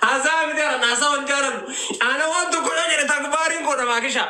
Haasaa miti kana haasaa hin jaalannu. Ana waan tokkodha jedhe takbaariin koo namaa kishaa.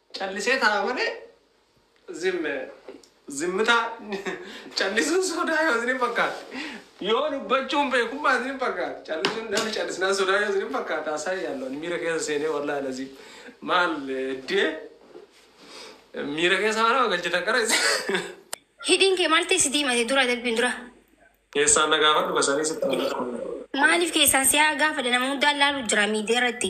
Callisee taa'a malee zim zimmitaa callisuun sodaa yoo isin fakkaate yoo dubbachuun beekummaa isin fakkaate callisuun namni callisnaan sodaa yoo isin fakkaate haasaa yaallu ani miira keessa seenee wallaahi lazii maal dee miira keessa mana galchitan qara isin Hidhiin kee maal ta'e si diimate dura darbiin dura. keessaan na gaafadhu basanii sitti Maaliif keessaan siyaa gaafadha nama hundaan laalu jira miidiyaa irratti.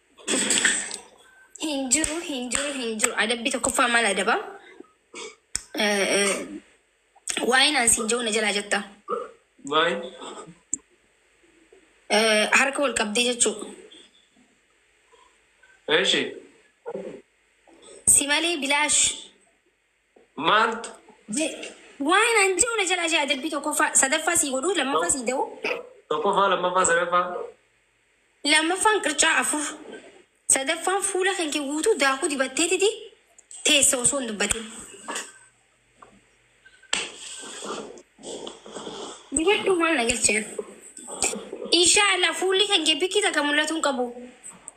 Hin jiru, hin jiru, hin jiru. Adabbii tokkoffaa maal adaba? Eh, eh, Waa'een aan siin jiru na jalaa jetta. Maal? Eh, Harka wal qabdee jechuu. Eeshi. Si malee bilaash. Maaltu. Je, waan an je'u na jalaa shaya adabbii tokkoffaa, sadaffaa sii godhuu, lammaffaa sii da'uu. Tokkoffaa, lammaffaa, sadaffaa. Lammaffaan qircaa afur. Sadaffaan fuula kanke guutuu daakuu dibatteetiti teessa osoo hin dubbatin. Dibadhuu maal na galche an. Inshaa Allah fuulli kanke bikki takka mul'atuu hin qabu.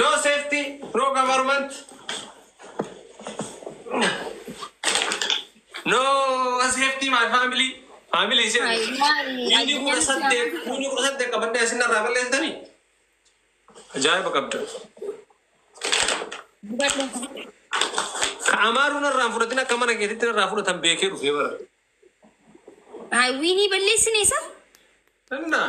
No safety, no government, no safety my family. Family ishee Ay, maali? Inni kudha saddeet, inni kudha saddeet qabadhee isin irraa balleessitanii? Ajaa'iba qabda. Ka amaaruu narraa hin fudhatin akka mana keetitti narraa fudhatan beekee dhufee bara. Ay, wiinii balleessine isa? Innaa.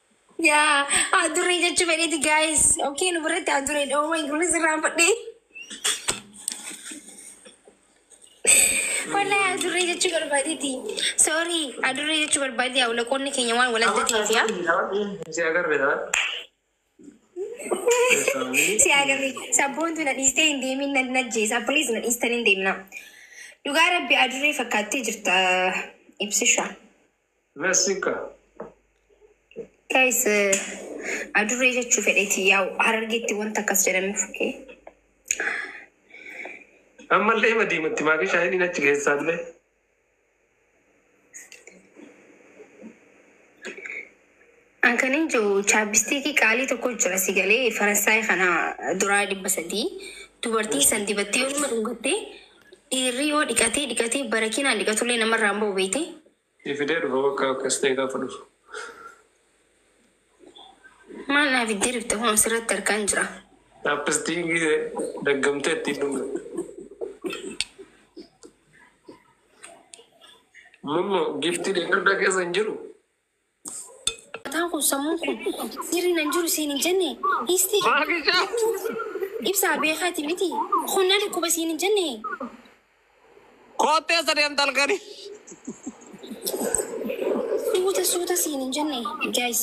Yaa adurree jechuu fedheeti gaayis. Okee nu biratti adurree dha. Uumaa kun sirraa fudhee. Wallahi adurree jechuu barbaadeeti. Sorry adurree jechuu barbaade yaa ulaqoonni keenya waan wal adda ta'eef yaa. Si agarre dha. Si agarre sabboontu na dhiistee hin deemin na najjeesa. Please na dhiistan hin deemna. Dhugaa rabbi adurree fakkaattee jirta ibsisha. Vesica. Guys, eh, adurree jechuu fedheeti yaa harargeetti wanta akkas jedhamuuf okay? Ammallee hima diimatti maakii shaayiniin achi keessaallee. An kanin je'u chaappistiikii qaalii tokko jira si galee Faransaay kana duraa dhibba sadii dubartiin san dibattee yoo nama dhungatte dhiirri yoo dhiqatee dhiqatee barakiinaan dhiqatullee namarraa hin ba'u beeyte. Sii fidee dhufa bakka akkas ta'e gaafa dhufu. Maal naa fiddee dhufte kunoo sirratti harkaan jira. Chaappistiikii daggamtee ittiin dhungatte. Mummo giiftii deeggardaa keessa hin jiru. Mataan kun sammuun kun sirri nan jiru siin hin jenne dhiisti ibsaa beekaati miti kun na dhukkuba siin hin jenne. Koottee isa deemta halkani. Suuta suuta siin hin jenne guys.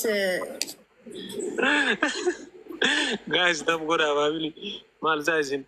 Guys tab godhaa faamili maal isaa isin.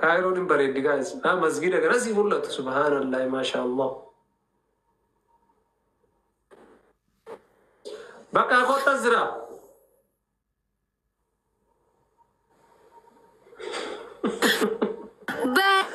Kaayiroon hin bareeddi guys. Haa masgiida kana sii mul'atu subhaanallahi maashaallah. Bakka kottas jira. Baay'ee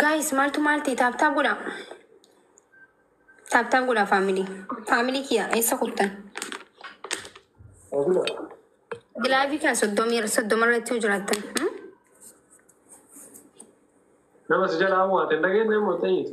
Gaayis maaltu maalti taaptaa godha. Taaptaa godha faamilii. Faamilii kiyya eessa kuttan? Gilaavii kan soddomii soddoma irratti yoo jiraattan. hmm? Nama si jalaa mo'ate hin dhageenye immoo ta'eeti.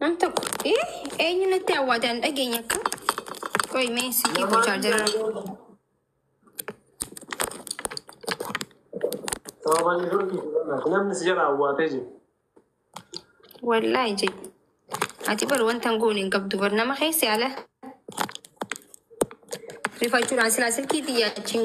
Nam tokko ee eenyu natti awwaate an dhageenya akka qoy mee silkii koo chaarjara Namni si jala awwaatee jiru. wallaahi jedhe ati bar wanta hin goone hin qabdu bar nama keessa ala rifachuudhaan silaa silkii xiyyaachin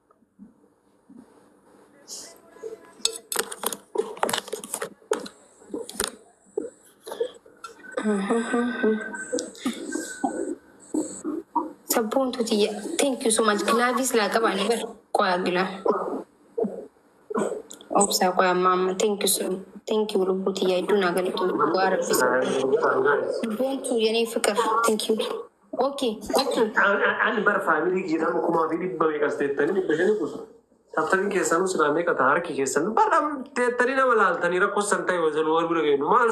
Sabboontuu tiyya. Thank you so much. Gilaaviis laa qabaan bar. Qoyaa gilaa. Obsaa qoyaa maamma. Thank you so much. Thank you lubbuu tiyya. Iddoo naa galatu. Waa rabbisa. Sabboontuu yenee fiqir. Thank you. Okay. Okay. Ani bar faamilii kiyya nama kumaa fi dhibba meeqas teettanii dhibba shanii kutu. Tattanii keessanuu silaa meeqa ta'a harki keessan bar teettanii nama laaltanii rakkoo san ta'e wazanuu wal bira ga'e maal